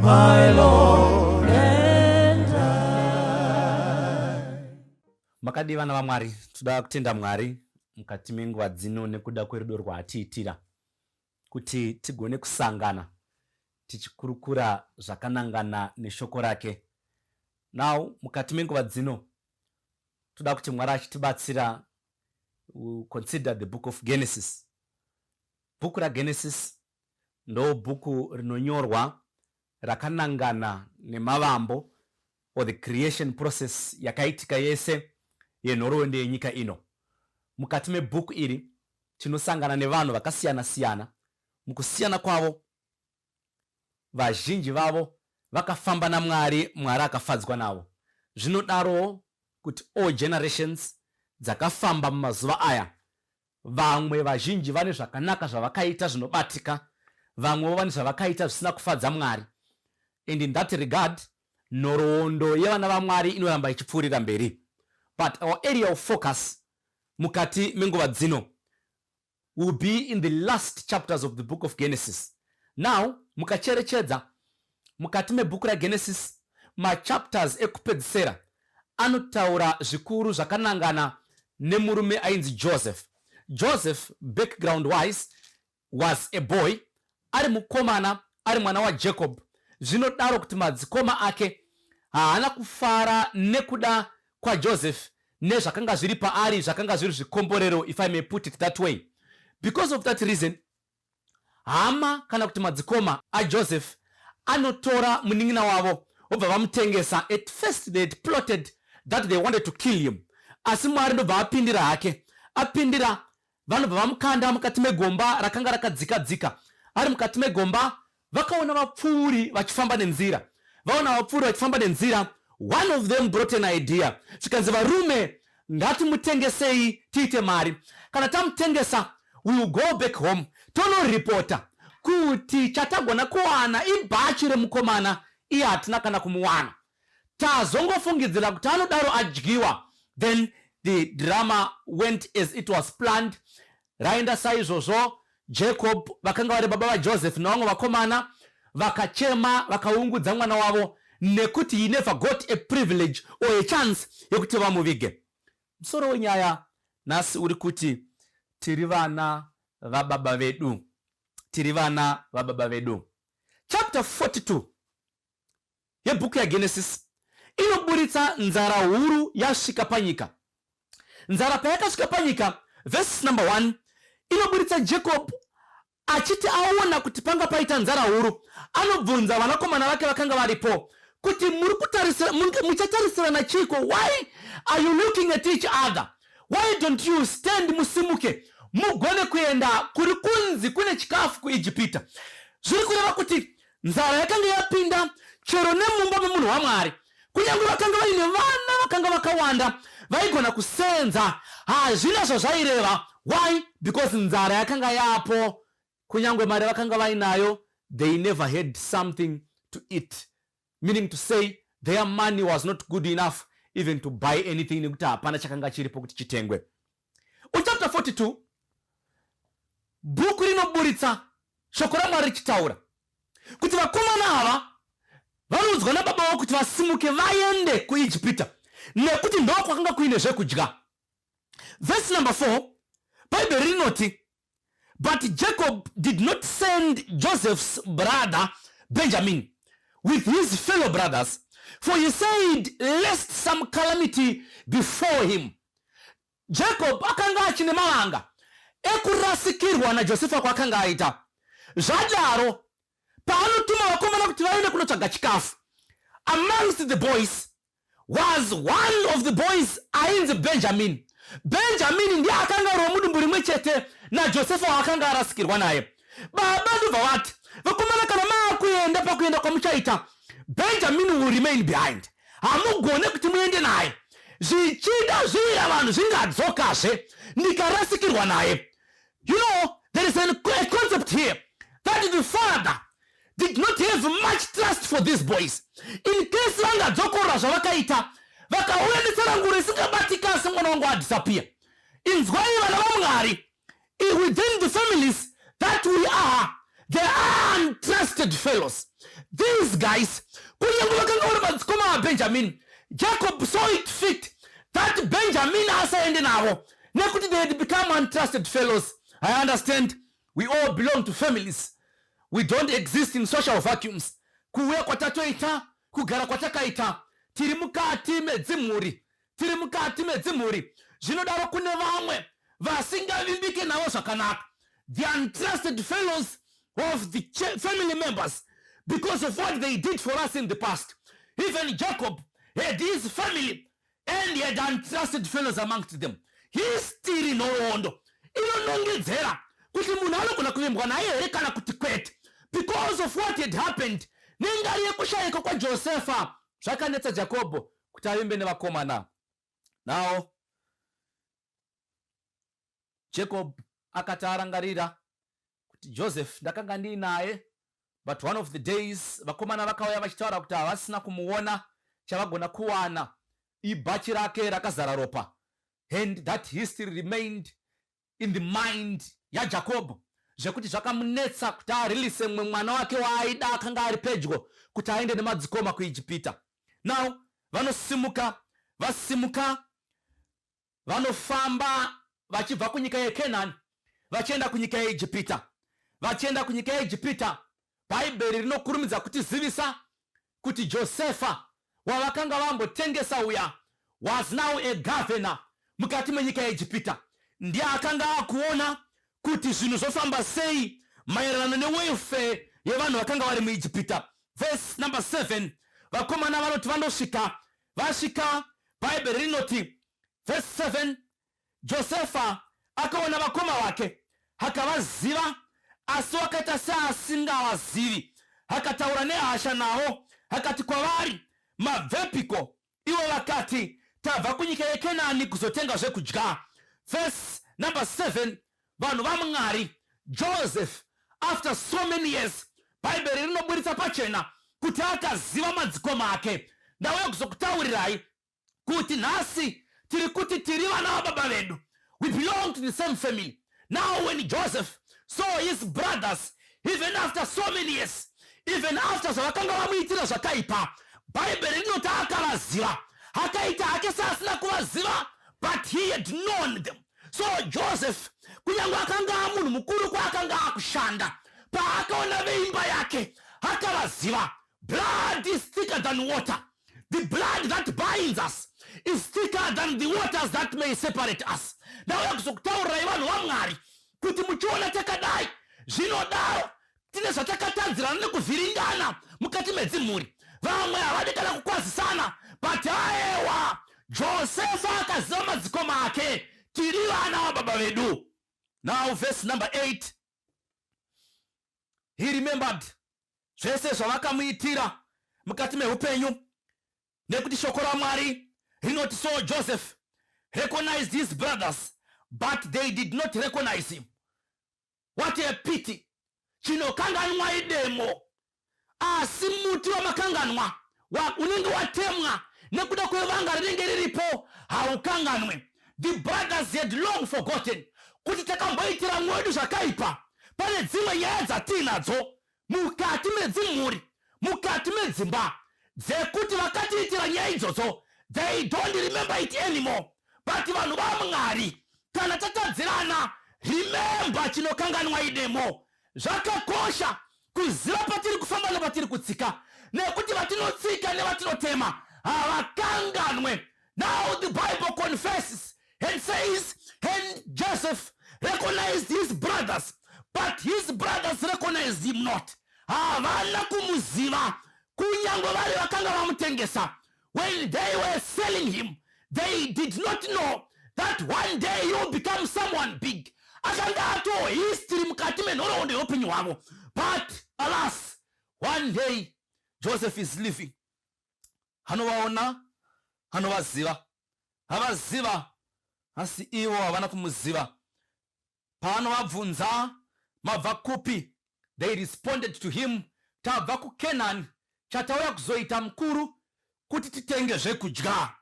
My Lord and I. Makadii vana vaMwari, toda kutenda Mwari mukati menguva dzino nekuda kwerudo rwaatiitira kuti tigone kusangana tichikurukura zvakanangana neshoko rake. Now mukati menguva dzino toda kuti Mwari achitibatsira consider the book of Genesis. Bhuku raGenesis ndobhuku rinonyorwa rakanangana nemavambo or the creation process yakaitika yese yenhoroondo yenyika ino. Mukati mebhuku iri tinosangana nevanhu vakasiyana siyana. Mukusiyana kwavo, vazhinji vavo vakafamba naMwari, Mwari akafadzwa navo. Zvinodarowo kuti all generations dzakafamba mumazuva aya Vamwe vazhinji vane zvakanaka zvavakaita zvinobatika, vamwewo vane zvavakaita zvisina kufadza Mwari. And in that regard, nhoroondo yevana vaMwari inoramba ichipfuurira mberi. But our area of focus mukati menguva dzino will be in the last chapters of the book of Genesis. Now, mukacherechedza Mukati mebhuku raGenesis, machapters ekupedzisera anotaura zvikuru zvakanangana nemurume ainzi Joseph. Joseph, background wise, was a boy, ari mukomana, ari mwana waJacob, zvinodaro kuti madzikoma ake haana kufara nekuda kwaJoseph nezvakanga zviri paari zvakanga zviri zvikomborero if I may put it that way. Because of that reason, Hama kana kuti madzikoma aJoseph anotora munin'ina wavo vobva vamutengesa. At first they had plotted that they wanted to kill him, asi Mwari ndobva apindira hake. Apindira vanobva vamukanda mukati megomba rakanga rakadzika dzika. Ari mukati megomba vakaona vapfuuri vachifamba nenzira vaona vapfuuri vachifamba nenzira one of them brought an idea zvikanzi varume ngatimutengesei tiite mari kana tamutengesa we will go back home tonoripota kuti chatagona kuwana ibhachi remukomana iye hatina kana kumuwana tazongofungidzira kuti anodaro adyiwa then the drama went as it was planned Raenda saizvozvo. Jacob vakanga vari baba vaJoseph navamwe vakomana vakachema vakaungudza mwana wavo nekuti he never got a privilege or a chance yekuti vamuvige. Musoro wenyaya nhasi uri kuti tiri vana vababa vedu, tiri vana vababa vedu. Chapter 42 yebhuku yaGenesis inoburitsa nzara huru yasvika panyika. Nzara payakasvika panyika, verse number 1 inoburitsa Jacob achiti aona kuti panga paita nzara huru, anobvunza vanakomana vake vakanga varipo kuti muri kutarisira muchatarisirana chiiko why are you looking at each other why don't you stand musimuke mugone kuenda kuri kunzi kune chikafu kuijipita zviri kureva kuti Nzara yakanga yapinda chero nemumba memunhu waMwari. Kunyange vakanga vaine vana vakanga vakawanda vaigona kusenza, hazvina zvazvaireva. Why? Because nzara yakanga yapo. Kunyange mari vakanga vainayo, they never had something to eat. Meaning to say, their money was not good enough even to buy anything nekuti hapana chakanga chiripo kuti chitengwe. Uchapter 42 bhuku rinoburitsa shoko ramwari richitaura kuti vakomana ava vanoudzwa nababa vavo kuti vasimuke vaende kuijipita nekuti ndo kwakanga kuine zvekudya vhesi number 4 bhaibheri rinoti But Jacob did not send Joseph's brother Benjamin with his fellow brothers, for he said, Lest some calamity before him. Jacob akanga achine mavanga ekurasikirwa naJosefa kwaakanga aita. Zvadaro, paanotuma vakomana kuti vaende kunotsvaga chikafu amongst the boys, was one of the boys ainzi benjamini benjamini ndiye akanga ari wemudumbu rimwe chete najosefa waakanga arasikirwa naye baba ndobva vati vakomana kana maakuenda pakuenda kwamuchaita benjamini will remain behind hamugone kuti muende naye zvichida zviya vanhu zvingadzokazve ndikarasikirwa naye you know there is a concept here that the father did not have much trust for these boys in case vangadzokorora zvavakaita vakauya netsarangu risingabatika asi mwana wangu adisappear inzwai vana vamwari within the families that we are the untrusted fellows these guys kunyange vakanga vari madzikoma abenjamini jacob saw it fit that benjamini asaende navo nekuti they had become untrusted fellows i understand We all belong to families. We don't exist in social vacuums. Kuuya kwatatoita, kugara kwatakaita, tiri mukati medzimhuri, tiri mukati medzimhuri. Zvinodaro kune vamwe vasingavimbike navo zvakanaka. The untrusted fellows of the family members because of what they did for us in the past. Even Jacob had his family and he had untrusted fellows amongst them histiri nhoroondo inonongedzera kuti munhu anogona kuvembwa naye here kana kuti kwete because of what had happened nengari yekushayika kwajosefa zvakanetsa jakobho kuti avimbe nevakomana now jacob akati arangarira kuti Joseph ndakanga ndiinaye but one of the days vakomana vakauya vachitaura kuti havasina kumuona chavagona kuwana ibhachi rake rakazara ropa and that history remained in the mind yajacob zvekuti zvakamunetsa kuti arilise mumwe mwana wake waaida akanga ari pedyo kuti aende nemadzikoma kuijipita now vanosimuka vasimuka vanofamba vachibva kunyika yekenani vachienda kunyika yeijipita vachienda kunyika yeijipita bhaibheri rinokurumidza kutizivisa kuti josefa wavakanga vambotengesa uya was now a governor mukati menyika yeijipita ndiye akanga akuona kuti zvinhu zvofamba sei maererano newelfare yevanhu vakanga vari muijipita vhesi number 7 vakomana vanoti vanosvika Vasvika, Bhaibheri rinoti, vhesi 7, Josefa akaona vakoma vake, akavaziva, asi wakaita seasingavazivi, akataura nehasha navo, akati kwavari, Mabvepiko? Ivo vakati, Tabva kunyika yeKenani kuzotenga zvekudya. Vhesi number 7, Vanhu vaMwari, Joseph, after so many years, Bhaibheri rinoburitsa pachena kuti akaziva madzikoma ake. Ndauya kuzokutaurirai kuti nhasi tiri kuti tiri vana vababa vedu. We belong to the same family. Now when Joseph saw his brothers, even after so many years, even after zvavakanga vamuitira zvakaipa, Bhaibheri rinoti akavaziva. Akaita hake seasina kuvaziva, but he had known them. so joseph kunyange akanga amunhu mukuru kwaakanga akushanda paakaona veimba yake akavaziva blood is thicker than water the blood that binds us is thicker than the waters that may separate us ndauya kuzokutaurirai vanhu vamwari kuti muchiona takadai zvinodaro Tine zvatakatadzirana nekuvhiringana mukati medzimhuri. Vamwe havadi kana kukwazisana but aewa Josefa akaziva madzikoma ake. Tiri vana vababa vedu. Now verse number 8. He remembered zvese zvavakamuitira mukati mehupenyu nekuti shoko ramwari rinoti so joseph recognized his brothers but they did not recognize him what a pity chinokanganwa idemo asi muti wamakanganwa unenge watemwa nekuda kwevanga rinenge riripo haukanganwe the brothers had long forgotten kuti takamboitira mwedu zvakaipa pane dzimwe nyaya dzatiinadzo mukati medzimhuri mukati medzimba dzekuti vakatiitira nyaya idzodzo they don't remember it anymore but vanhu vamwari kana tatadzirana remember chinokanganwa idemo zvakakosha kuziva patiri kufamba nepatiri kutsika nekuti vatinotsika nevatinotema havakanganwe Now the Bible confesses and says, and Joseph recognized his brothers, but his brothers recognized him not. Havana kumuziva kunyangwe vari vakanga vamutengesa. When they were selling him, they did not know that one day you will become someone big. Akanga ato history mukati menhoroondo yeupenyu hwavo. But alas, one day Joseph is living. anovaona anovaziva avaziva asi ivo havana kumuziva paanovabvunza mabva kupi they responded to him tabva kukenani chatauya kuzoita mukuru kuti titenge zvekudya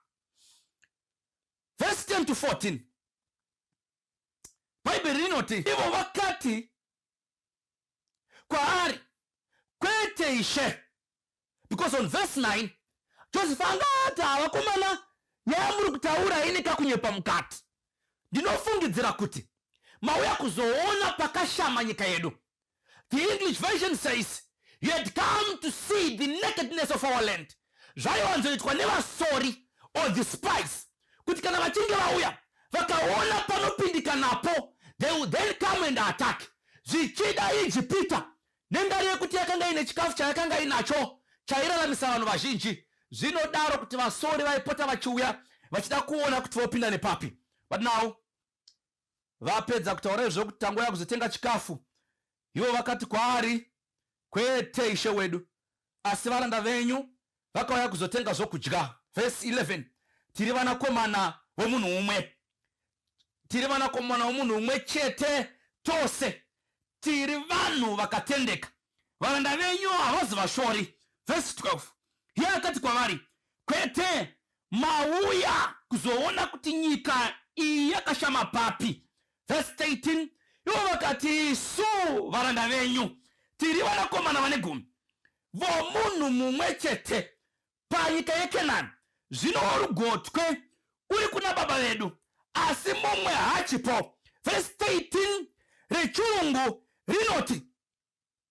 vhesi 10 to 14 bhaibheri rinoti ivo vakati kwaari kwete ishe because on verse 9 joseph anga ati havakomana nyaya muri kutaura ine kakunyepa mukati ndinofungidzira kuti mauya kuzoona pakashama nyika yedu the english version says you had come to see the nakedness of our land zvaiwanzoitwa nevasori or the spice kuti kana vachinge vauya vakaona panopindika napo they will then come and attack zvichida ijipita nendari yekuti yakanga ine chikafu chayakanga inacho chairaramisa vanhu vazhinji zvinodaro kuti vasori vaipota vachiuya vachida kuona kuti vopinda nepapi but now Vapedza kutaura izvo kuti tangouya kuzotenga chikafu, ivo vakati kwaari, Kwete, ishe wedu, asi varanda venyu vakauya kuzotenga zvokudya. Vhesi 11 tiri vanakomana vomunhu umwe, tiri vanakomana vomunhu umwe chete tose, tiri vanhu vakatendeka, varanda venyu havazi vashori. Vhesi 12 iye akati kwavari, Kwete, Mauya kuzoona kuti nyika iyi yakashama papi. Verse 13 ivo vakati, Isu varanda venyu tiri vanakomana vane gumi vomunhu mumwe chete panyika yeKenani, zvino worugotwe uri kuna baba vedu, asi mumwe haachipo. Verse 13 rechirungu rinoti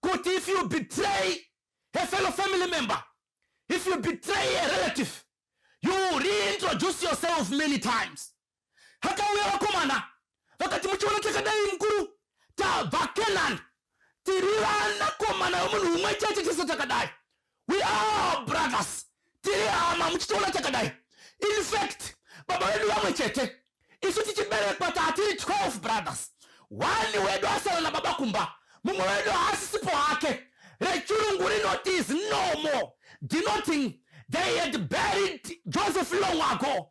kuti if you betray a fellow family member if you betray a relative you reintroduce yourself many times hakauya vakomana vakati muchiona chakadai mukuru tabva kenan tiri vanakomana vemunhu umwe chete chese chakadai we are brothers tiri hama muchitoona chakadai in fact baba vedu vamwe chete isu tichiberekwa taatiri 12 brothers one wedu asara nababa kumba mumwe wedu haasisipo hake rechirungu rinoti is no more denoting they had buried joseph long ago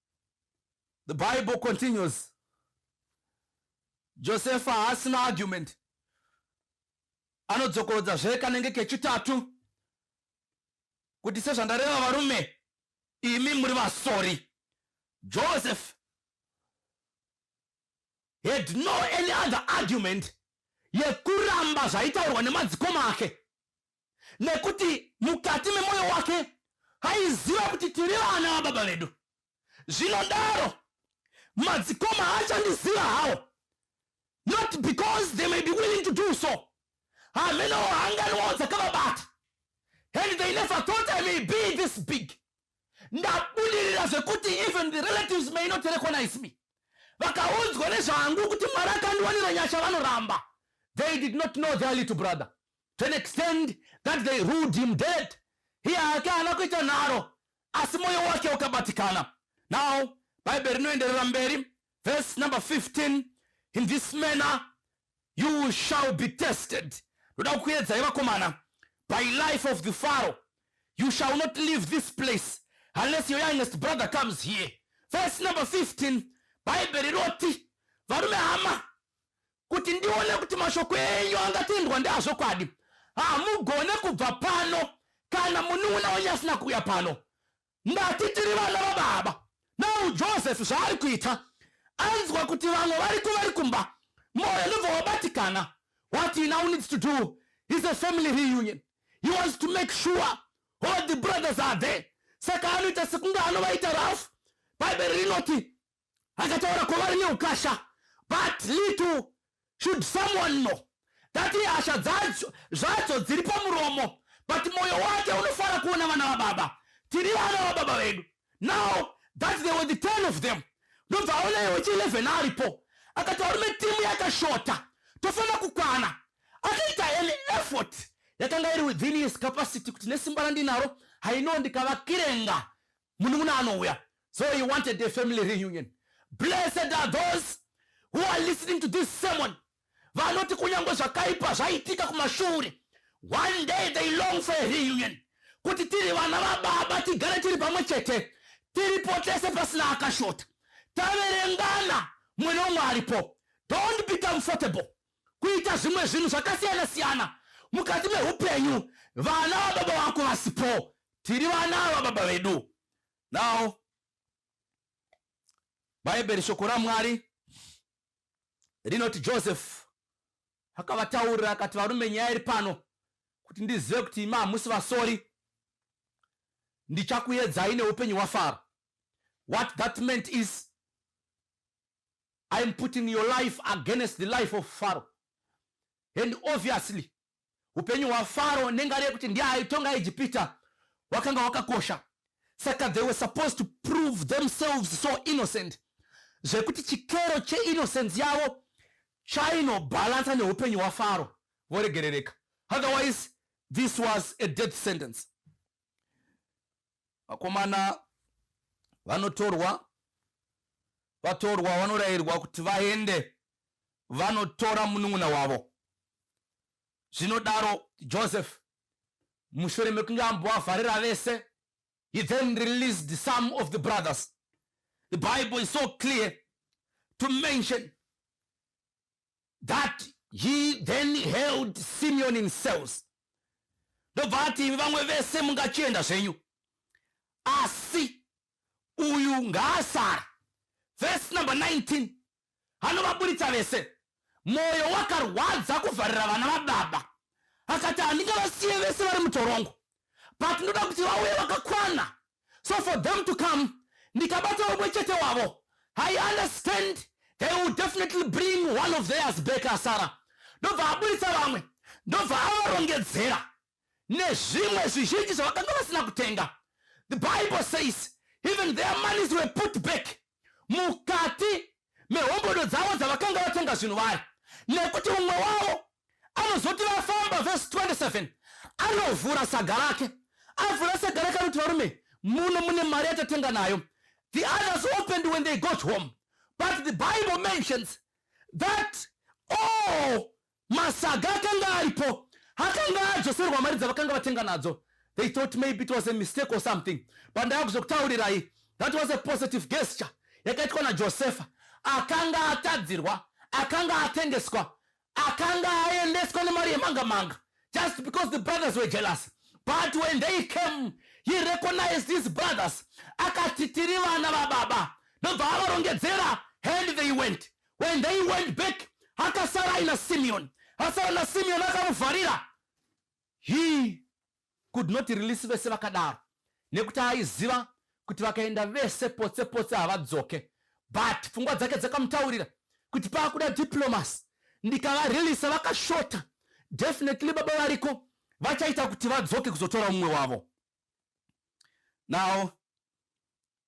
the bible continues josefa haasina argument anodzokorodza zve kanenge kechitatu kuti sezvandareva varume imi muri vasori joseph had no any other argument yekuramba zvaitaurwa nemadzikoma ake nekuti mukati memwoyo wake aiziva kuti tiri vana vababa vedu zvinodaro madzikoma haachandiziva hawo not because they may be willing to do so hamenowo hanganwawo dzakavabata and they never thought i may be this big ndabudirira zvekuti even the relatives may not recognize me vakaunzwa nezvangu kuti mwari akandiwanira nyasha vanoramba they did not know their little brother to an extent that they ruled him dead hiye hake haana kuita nharo asi mwoyo wake ukabatikana now bhaibheri rinoenderera mberi verse number 15 in this manner you shall be tested ndoda kukuedzai vakomana by life of the faro you shall not leave this place unless your youngest brother comes here verse number 15 bhaibheri roti varume hama kuti ndione kuti mashoko enyu angatendwa ndeazvokwadi hamugone kubva pano kana munun'una wenyu asina kuuya pano ndati tiri vana vababa nau joseph zvaari kuita anzwa kuti vamwe variko vari kumba moyo ndobva wabatikana what he now needs to do is a family reunion he wants to make sure all the brothers are there saka anoita sekunge anovaita rafu bhaibheri rinoti akataura kwavari neukasha but little should someone know that hasha dzacho zvacho dziri pamuromo but mwoyo wake unofara kuona vana vababa tiri vana vababa vedu now that they were the ten of them ndobva aona iwe chi 11 aripo akati varume timu yakashota tofanira kukwana akaita an effort yakanga iri within his capacity kuti nesimba randinaro haino ndikavakirenga munun'una anouya so he wanted a family reunion blessed are those who are listening to this sermon vanoti kunyange zvakaipa zvaitika kumashure one day they long for a reunion kuti tiri vana vababa tigare tiri pamwe chete tiripo tese pasina akashota taverengana mwene umwe aripo don't be comfortable kuita zvimwe zvinhu zvakasiyana siyana mukati meupenyu vana vababa vako vasipo tiri vana vababa vedu now bhaibheri shoko ramwari rinoti joseph akavataurira akati varume nyaya iri pano kuti ndizive kuti imi hamusi vasori ndichakuyedzai neupenyu hwafaro what that meant is I am putting your life against the life of Pharaoh. And obviously, upenyu hwaFaro nengari yekuti ndiye aitonga Ejipita wakanga wakakosha. Saka they were supposed to prove themselves so innocent zvekuti chikero cheinnocence yavo chainobhalansa neupenyu hwaFaro voregerereka. Otherwise, this was a death sentence. vakomana vanotorwa vatorwa vanorayirwa kuti vaende vanotora munun'una wavo zvinodaro joseph mushure mekunge ambovavharira vese he then released some of the brothers the bible is so clear to mention that he then held simeon in cells ndobva ati vamwe vese mungachienda zvenyu asi uyu ngaasara vhesi number 19 anovaburitsa vese mwoyo wakarwadza kuvharira vana vababa akati handingavasiye vese vari mutorongo but ndoda kuti vauye vakakwana so for them to come ndikabata vamwe chete wavo i understand they will definitely bring one of theirs back asara ndobva aburitsa vamwe ndobva avarongedzera nezvimwe zvizhinji zvavakanga vasina kutenga the bible says even their monies were put back mukati mehombodo dzavo dzavakanga vatenga zvinhu vari nekuti umwe wavo anozoti vafamba vhesi 27 anovhura saga rake avhura saga rake anoti varume muno mune mari yatatenga nayo the others opened when they got home but the bible mentions that all Masaga akanga aripo akanga adzoserwa mari dzavakanga vatenga nadzo. They thought maybe it was a mistake or something. Pandava kuzokutaurirai, that was a positive gesture yakaitwa naJosefa. Akanga atadzirwa, akanga atengeswa, akanga aendeswa nemari yemanga manga just because the brothers were jealous. But when they came, he recognized his brothers. Akati tiri vana vababa. Ndobva avarongedzera and they went. when they went back akasara aina simeon asara nasimeon akamuvharira he could not release vese vakadaro nekuti aiziva kuti vakaenda vese potse potse havadzoke but pfungwa dzake dzakamutaurira kuti paakuda diplomas ndikavarelisa vakashota definitely baba variko vachaita kuti vadzoke kuzotora mumwe wavo now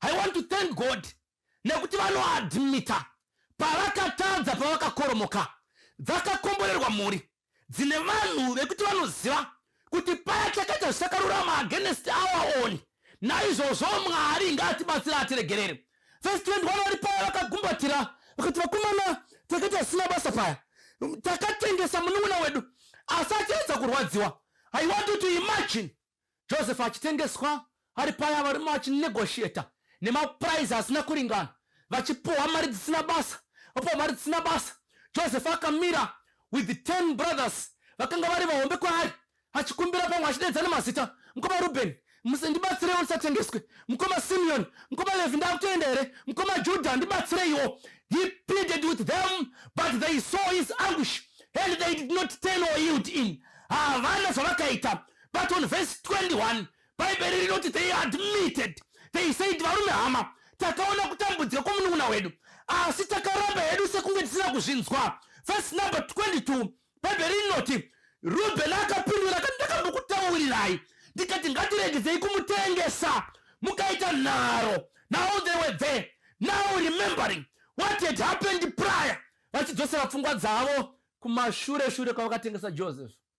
i want to thank god nekuti vanoadmita pavakatadza pavakakoromoka dzakakomborerwa mhuri dzine vanhu vekuti vanoziva kuti paya chakaita zvisakarurama agenest our own naizvozvo mwari ngaatibatsira atiregerere vhesi 21 vari paya vakagumbatira vakati vakomana takaita zvisina basa paya takatengesa munun'una wedu asi achiedza kurwadziwa i want you to imagine Joseph achitengeswa ari paya varume vachinegotiator nemaprize asina kuringana vachipuhwa mari dzisina basa vapuhwa mari dzisina basa joseph akamira with the ten brothers vakanga vari vahombe kwaari achikumbira pamwe achidedza nemazita mukoma ruben ndibatsireiwo ndisatengeswe mukoma simeon mukoma levi ndakutoenda here mukoma juda ndibatsireiwo he pleaded with them but they saw his anguish and they did not turn or yield in havana zvavakaita but on verse 21 bhaibheri rinoti they admitted they said varume hama takaona kutambudzika kwomunun'una wedu asi takaramba hedu sekunge tisina kuzvinzwa verse number 22 bhaibheri rinoti rubheni akapindura kati ndakambokutaurirai ndikati ngatiregedzei kumutengesa mukaita nharo now they were there now remembering what had happened prior vachidzosera pfungwa dzavo kumashure shure kwavakatengesa joseph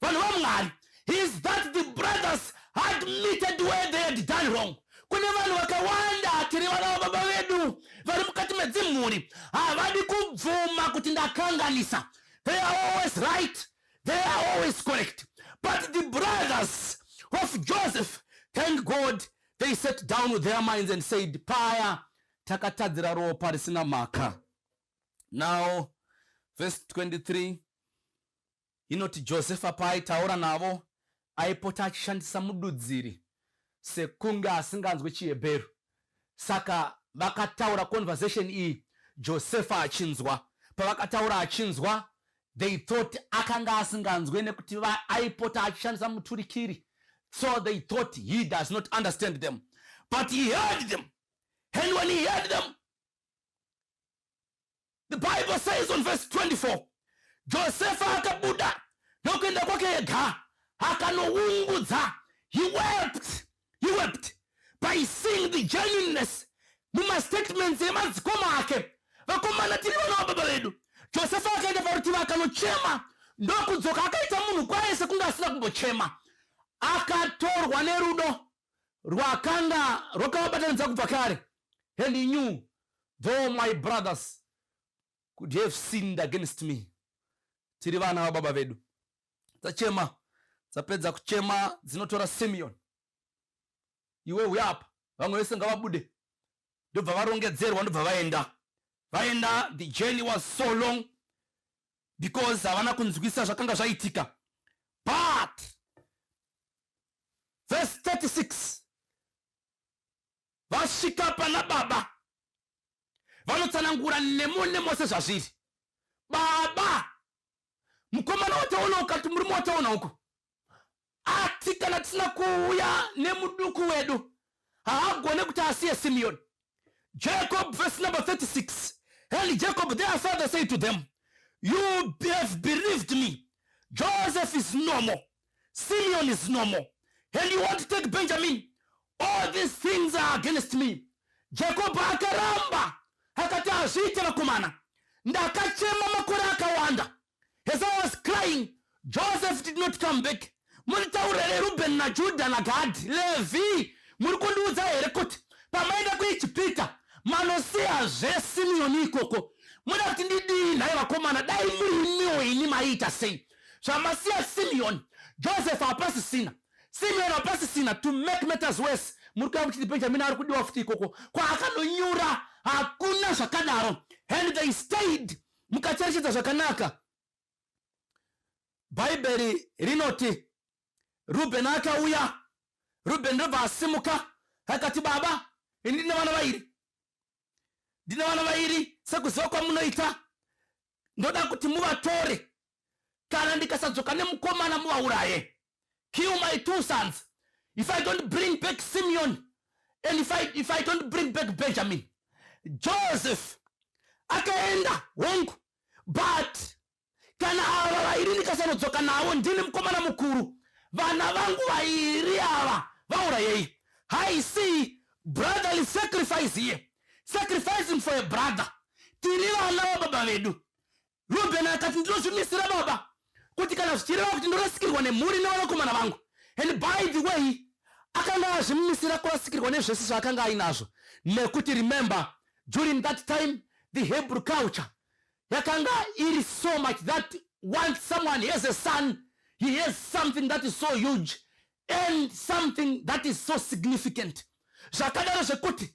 vanhu vamwari is that the brothers admitted where they had done wrong kune vanhu vakawanda tiri vana vababa vedu vari mukati medzimhuri havadi kubvuma kuti ndakanganisa they are always right they are always correct but the brothers of joseph thank god they set down with their minds and said paya takatadzira ropa risina mhaka now verse 23 Inoti Josefa paaitaura navo aipota achishandisa mududziri sekunge asinganzwe chiHebheru. Saka vakataura conversation iyi Josefa achinzwa. Pavakataura achinzwa they thought akanga asinganzwe nekuti aipota achishandisa muturikiri so they thought he does not understand them but he heard them and when he heard them The Bible says on verse 24, Josefa akabuda nokuenda kwake ega akanoungudza. He wept, he wept by seeing the genuineness mumastatements emadzikoma ake. Vakomana tiri vana vababa vedu. Josefa akaenda parutivi akanochema ndokudzoka akaita munhu kwaye sekunge asina kumbochema. Akatorwa nerudo rwakanga rwakavabatanidza kubva kare and he knew though my brothers could have sinned against me tiri vana vababa vedu dzachema dzapedza kuchema dzinotora simeon iwe uya apa vamwe vese ngavabude ndobva varongedzerwa ndobva vaenda vaenda the journey was so long because havana kunzwisa zvakanga zvaitika but vhesi 36 vasvika pana baba vanotsanangura nemo nemo sezvazviri baba mukomana wataona ukati murume wataona uko ati kana tisina kuuya nemuduku wedu haagone kuti asiye Simeoni. Jacob verse number 36. And Jacob their father said to them, You have bereaved me. Joseph is no more. Simeon is no more. And you want to take Benjamin. All these things are against me. Jacob akaramba akati hazviite vakomana. Ndakachema makore akawanda. Esau was crying, Joseph did not come back. Muri taura here Ruben na Judah na Gad, Levi? Muri kundiudza here kuti pamaenda kuEgipita manosiya zve Simeoni ikoko? Muda kuti ndidii nhai vakomana? Dai muri imiwo ini maiita sei? Zvamasiya Simeoni, Joseph hapasisina. Simeoni hapasisina to make matters worse. Muri kuya kuti Benjamin ari kudiwa futi ikoko. Kwaakanonyura hakuna zvakadaro. And they stayed Mukacherechedza zvakanaka, Bhaibheri rinoti, Rubheni akauya, Rubheni ndobva asimuka, akati, Baba, ini ndine vana vairi, ndine vana vairi, sekuziva kwamunoita, ndoda kuti muvatore kana ndikasadzoka nemukomana muvauraye kill my two sons if i don't bring back simeon and if i, if I don't bring back benjamin joseph akaenda hongu but kana ava vairi ndikasanodzoka navo ndini mukomana mukuru vana vangu vairi ava vaurayei i see brotherly sacrifice here sacrificing for a brother tiri vana vababa vedu Reuben akati, Ndinozvimisira, baba, kuti kana zvichireva kuti ndorasikirwa nemhuri nevanakomana vangu. And by the way, akanga azvimisira kurasikirwa nezvese zvaakanga ainazvo nekuti remember during that time the hebrew culture yakanga iri so much that once someone has a son he has something that is so huge and something that is so significant zvakadaro zvekuti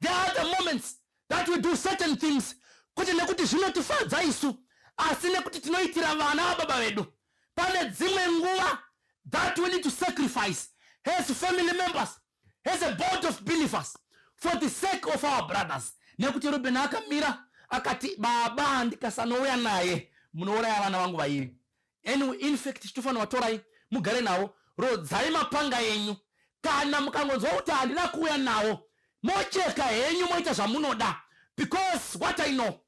There are the moments that we do certain things kuti nekuti zvinotifadza isu asi nekuti tinoitira vana vababa vedu pane dzimwe nguva that we need to sacrifice as family members as a board of believers for the sake of our brothers nekuti ruben akamira akati baba ndikasanouya naye munouraya vana vangu vairi anyway in fact tinofanirwa torai mugare nawo rodzai mapanga enyu kana mukangonzwa kuti handina kuuya nawo mocheka henyu moita zvamunoda because what i know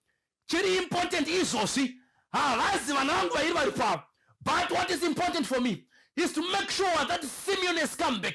chiri important izvozvi havazi vana vangu vairi vari pavo but what is important for me is to make sure that simeon has come back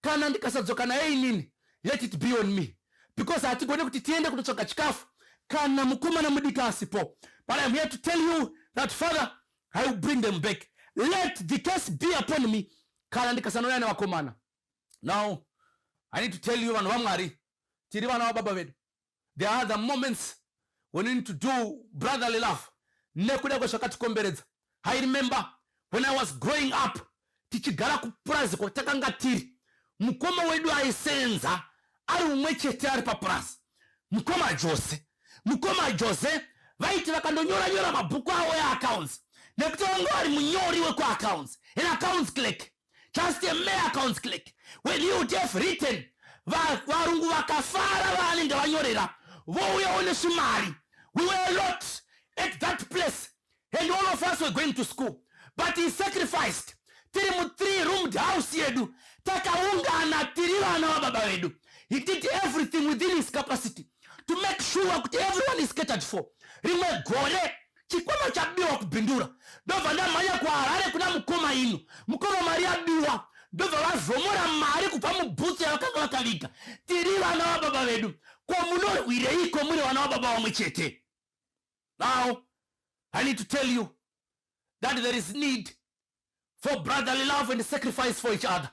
kana ndikasadzoka naye inini let it be on me because hatigone kuti tiende kunotsvaga chikafu kana mukomana mudiki asipo but im here to tell you that father i will bring them back let the case be upon me kana ndikasanouya nevakomana now i need to tell you vanhu vamwari tiri vana vababa vedu there are the moments when you need to do brotherly love nekuda kwezvakatikomberedza i remember when i was growing up tichigara kupurazi kwatakanga tiri mukoma wedu aisenza ari umwe chete ari papurazi mukoma jose mukoma jose vaiti vakandonyora nyora mabhuku avo eaccounts nekuti vanga vari munyori wekuaccounts an accounts click just a mere accounts click when he would have written varungu vakafara vaanenge vanyorera vouyawo nesvimari we were a lot at that place and all of us were going to school but he sacrificed tiri mu three roomed house yedu takaungana tiri vana vababa vedu he did everything within his capacity to make sure kuti everyone is catered for rimwe gore chikwama chabiwa kubhindura ndobva ndamhanya kuharare kuna mukoma ino mukoma mari yabiwa ndobva vazomora mari kubva mubhutsu yavakanga vakaviga tiri vana vababa vedu ko munorwireiko muri vana vababa vamwe chete now i need to tell you that there is need for brotherly love and sacrifice for each other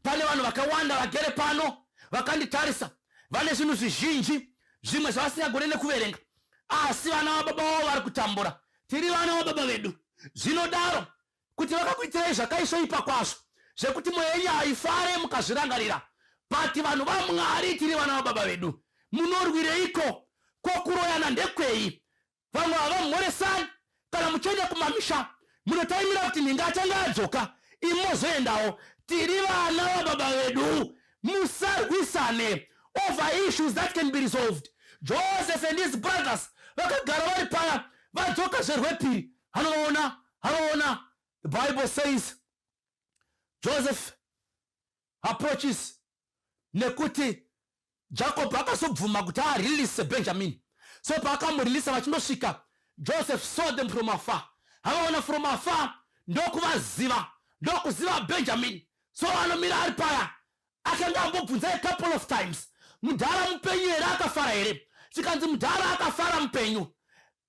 pane vanhu vakawanda vagere pano vakanditarisa vane zvinhu zvizhinji zvimwe zvavasingagone nekuverenga asi vana vababa vavo vari kutambura tiri vana vababa vedu zvinodaro kuti vakakuitirai zvakaisvoipa kwazvo zvekuti mwoyo yenyu haifare mukazvirangarira but vanhu vamwari tiri vana vababa vedu munorwireiko ko kuroyana ndekwei vamwe havamhoresani kana muchienda kumamisha munotaimira kuti nhinga achange adzoka imi mozoendawo tiri vana vababa vedu musarwisane over issues that can be resolved joseph and his brothers vakagara vari paya vadzoka zverwepiri hanovaona hanoona the bible says joseph approaches nekuti jacob akazobvuma kuti arilise benjamini so paakamurilisa vachindosvika joseph saw them from afar havaona from afar ndokuvaziva ndokuziva benjamin so anomira ari paya akanga ambobvunza a couple of times mudhara mupenyu here akafara here chikanzi mudhara akafara mupenyu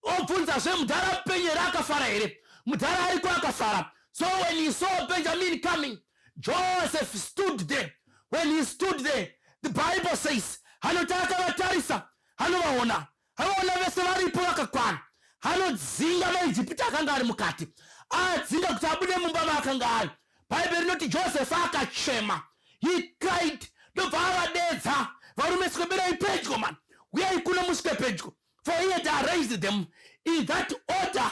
obvunzazve mudhara mupenyere akafara here mudhara ariko akafara so when he saw benjamin coming joseph stood there when he stood there the bible says anoti akavatarisa anovaona anoona vese varipo vakakwana anodzinga maijipita akanga ari mukati adzinga kuti abude mumba maakanga ari bhaibheri rinoti josefa akachema he cried ndobva avadedza varume sikoberai pedyo mani uyai kuno musvike pedyo for he had arranged them in that order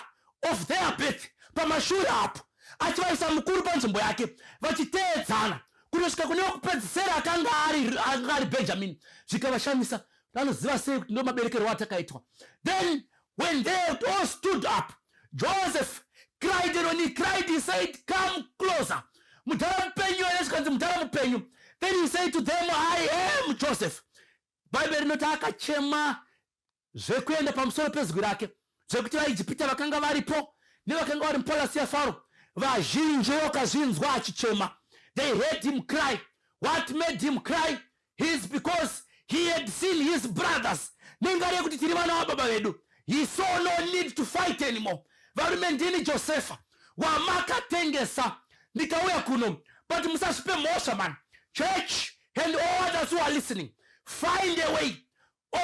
of their birth pamashure apo achivaisa mukuru panzvimbo yake vachiteedzana kunosvika kune wekupedzisera akanga anga ari benjamini zvikavashamisa vanoziva sei kuti ndo maberekerwo atakaitwa then when they all stood up joseph cried and when he cried he said come closer mudhara mupenyu ene zvikanzi mudhara mupenyu then he said to them i am joseph bhaibheri rinoti akachema zvekuenda pamusoro pezwi rake zvekuti vaijipita vakanga varipo nevakanga vari mupalasi yafaro vazhinji vakazvinzwa achichema they heard him cry what made him cry his because he had seen his brothers nengari yekuti tiri vana vababa vedu he saw no need to fight anymore varume ndini josefa wamakatengesa ndikauya kuno but musazvipe mhosva man church and all others who are listening find a way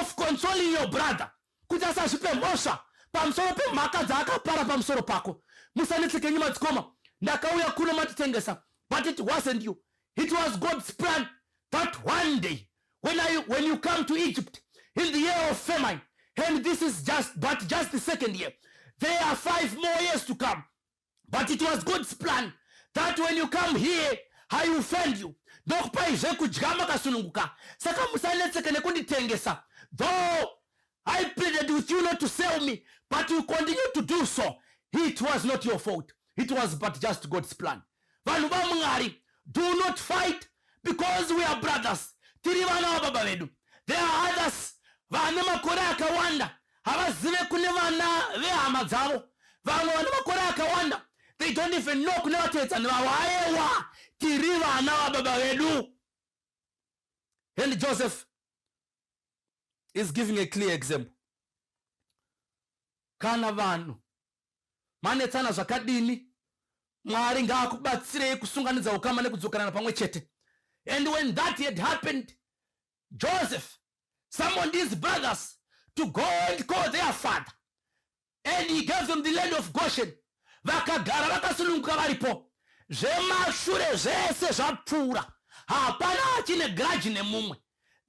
of consoling your brother kuti asazvipe mhosva pamusoro pemhaka dzaakapara pamusoro pako musanetsekenyi madzikoma ndakauya kuno matitengesa but it wasn't you it was god's plan that one day when, I, when you come to egypt in the year of famine and this is just but just the second year there are five more years to come but it was god's plan that when you come here i will fend you ndokupai zvekudya makasununguka saka musanetseke nekunditengesa though i pleaded with you not to sell me but you continue to do so it was not your fault it was but just god's plan vanhu vamwari do not fight because we are brothers tiri vana vababa vedu there are others vane makore akawanda havazive kune vana vehama dzavo vamwe vane makore akawanda they don't even know kune vatevedzani vavo ayewa tiri vana vababa vedu and joseph is giving a clear example kana vanhu manetsana zvakadini mwari ngaakubatsirei kusunganidza ukama nekudzokanana pamwe chete and when that had happened Joseph, some of these brothers to go and call their father and he gave them the land of Goshen. Vakagara vakasununguka varipo, zvemashure zvese zvapfuura, hapana achine grudge nemumwe.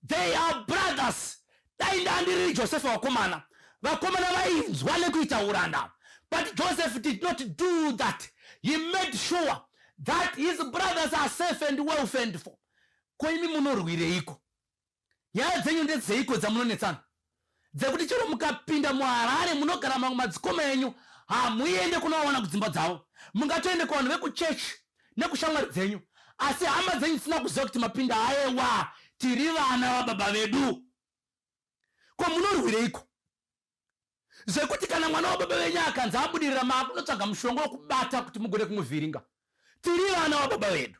They are brothers. Dai ndandiri Joseph vakomana, vakomana vainzwa nekuita uranda. But Joseph did not do that. He made sure that his brothers are safe and well fended for. Ko imi munorwireiko? Nyaya dzenyu ndedzeiko dzamunonetsana? Dzekuti chero mukapinda muHarare munogara mamwe madzikoma enyu hamuende kunovaona kudzimba dzavo. Mungatoende kuvanhu vekuchechi nekushamwari dzenyu asi hama dzenyu dzisina kuziva kuti mapinda aewa tiri vana vababa vedu. Ko munorwireiko? Zvekuti kana mwana wababa venyu akanzi abudirira maakunotsvaga mushonga wekubata kuti mugone kumuvhiringa. Tiri vana wababa vedu.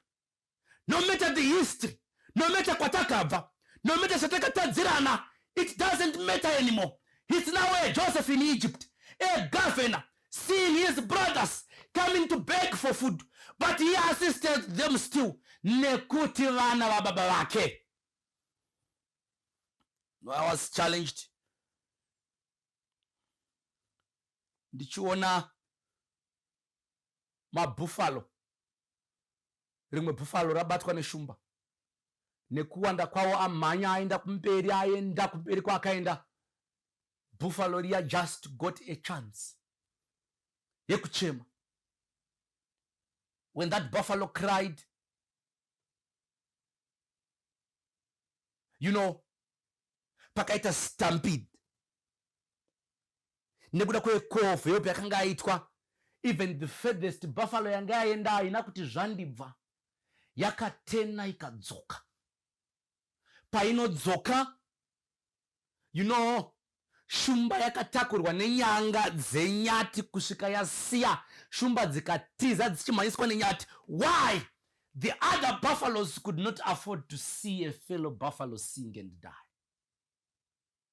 no matter the history no matter kwatakabva no matter zvatakatadzirana it doesn't matter anymore his now a joseph in egypt a governor seeing his brothers coming to beg for food but he assisted them still nekuti vana vababa vake no i was challenged ndichiona mabuffalo rimwe bhufalo rabatwa neshumba nekuwanda kwawo amhanya aenda kumberi aenda kumberi kwaakaenda bhufalo riya just got a chance yekuchema when that buffalo cried you know pakaita stampede nekuda kwekofu yope yakanga aitwa even the furthest buffalo yange yaenda haina kuti zvandibva yakatena ikadzoka painodzoka you know shumba yakatakurwa nenyanga dzenyati kusvika yasiya shumba dzikatiza dzichimhanyiswa nenyati why the other buffaloes could not afford to see a fellow buffalo sing and die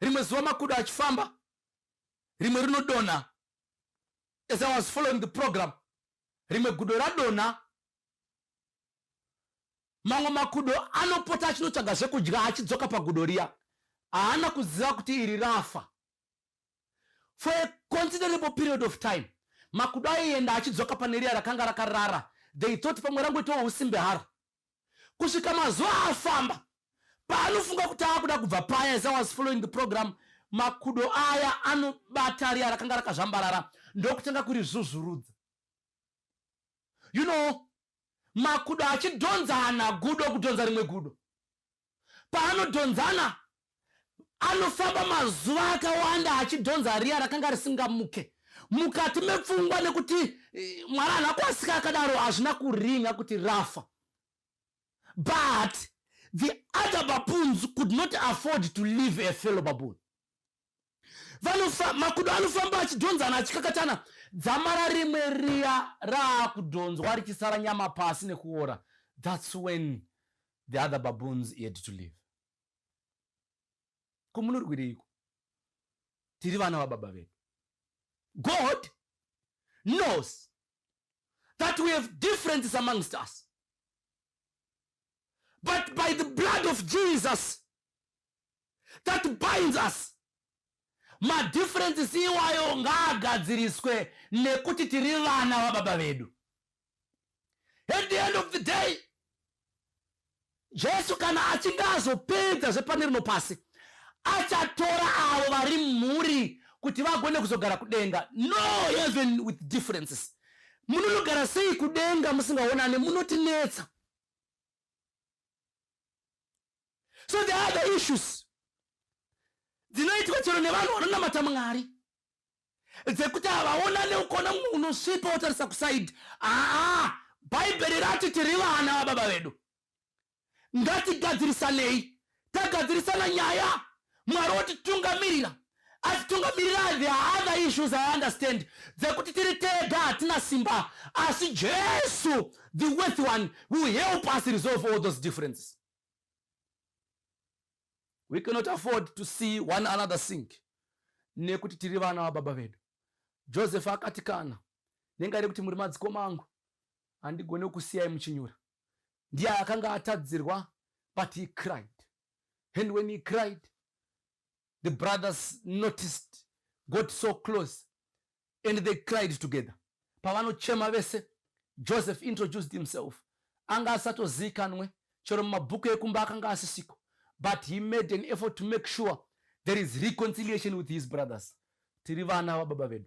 rimwe zuva makudo achifamba rimwe rinodonha as i was following the program rimwe gudo radonha mamwe makudo anopota achinotsvaga zvekudya achidzoka pagudo riya haana kuziva kuti iri rafa for a considerable period of time makudo aienda achidzoka pane riya rakanga rakarara they thought pamwe rangoitawo usimbe haro kusvika mazuva afamba paanofunga kuti akuda kubva paya as i was following the program makudo aya anobata riya rakanga rakazvambarara ndokutanga kuri zvuzvurudza you know makudo achidhonzana gudo kudhonza rimwe gudo paanodhonzana anofamba mazuva akawanda achidhonza riya rakanga risingamuke mukati mepfungwa nekuti eh, mwana hana kuasika akadaro hazvina kuringa kuti rafa but the other baboons could not afford to leave a fellow baboon vanofa makudo anofamba achidhonzana achikakatana dzamara rimwe riya raakudhonzwa richisara nyama pasi nekuora thats when the other baboons had to live kumunorwireiko tiri vana vababa vedu god knows that we have differences amongst us but by the blood of jesus that binds us madifferences iwayo ngaagadziriswe nekuti tiri vana vababa vedu at the end of the day jesu kana achinge azopedza zvepane rino pasi achatora avo vari mhuri kuti vagone kuzogara kudenga no even with differences munonogara sei kudenga musingaonane munotinetsa so the other issues dzinoitwa chero nevanhu vanonamata mwari dzekuti havaonane ukona mumwe unosvipa wotarisa kusaidi aa bhaibheri rati tiri vana vababa vedu ngatigadzirisanei tagadzirisana nyaya Mwari wotitungamirira asi tungamirira the other issues i understand dzekuti tiri tega hatina simba asi jesu the worth one will help us resolve all those differences we cannot afford to see one another sink nekuti tiri vana vababa vedu joseph akati kana nenga rekuti muri madziko mangu handigone kusiyai muchinyura ndiye akanga atadzirwa but he cried And when he cried, the brothers noticed, got so close, and they cried together. Pavanochema vese, Joseph introduced himself. Anga asatozikanwe, chero mumabhuku ekumba akanga asisiko. But he made an effort to make sure there is reconciliation with his brothers. Tiri vana vababa vedu.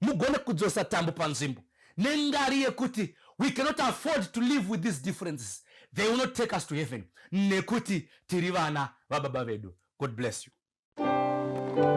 mugone kudzosa tambo panzvimbo nengari yekuti we cannot afford to live with these differences they will not take us to heaven nekuti tiri vana vababa vedu god bless you Thank you.